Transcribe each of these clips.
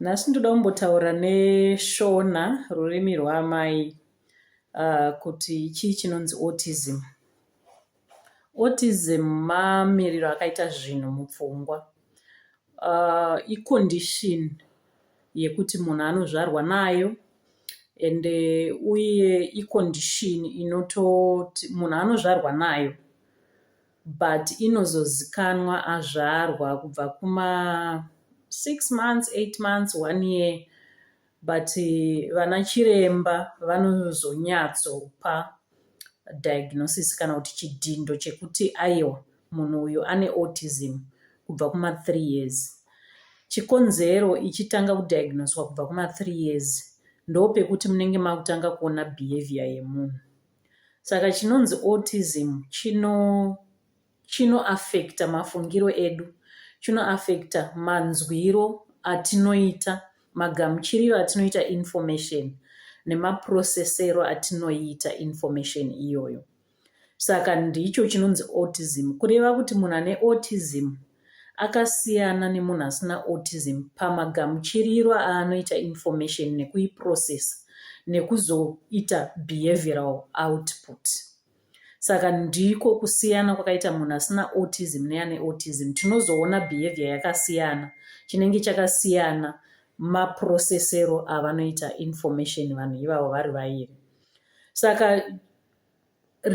Nhasi ndoda kumbotaura neShona rurimi rwaamai kuti chii chinonzi autism. Autism mamiriro akaita zvinhu mupfungwa. I condition yekuti munhu anozvarwa nayo ende uye i condition inototi munhu anozvarwa nayo but inozozikanwa azvarwa kubva kuma 6 months 8 months 1 year but vana chiremba vanozonyatsopa diagnosis kana kuti chidhindo chekuti aiwa munhu uyu ane autism kubva kuma 3 years chikonzero ichitanga kudiagnoswa kubva kuma 3 years ndopekuti munenge makutanga kuona behavior yemunhu Saka chinonzi autism chino chinoaffecta mafungiro edu, chinoaffecta manzwiro atinoita, magamuchiriro atinoita information nemaprocessero atinoita information iyoyo. Saka ndicho chinonzi autism, kureva kuti munhu ane autism akasiyana nemunhu asina autism pamagamuchiriro aanoita information nekuiprocessa nekuzoita behavioral output saka ndiko kusiyana kwakaita munhu asina autism neane autism tinozoona behavior yakasiyana chinenge chakasiyana maprocessero avanoita information vanhu ivavo vari vairi saka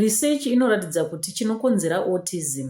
Research inoratidza kuti chinokonzera autism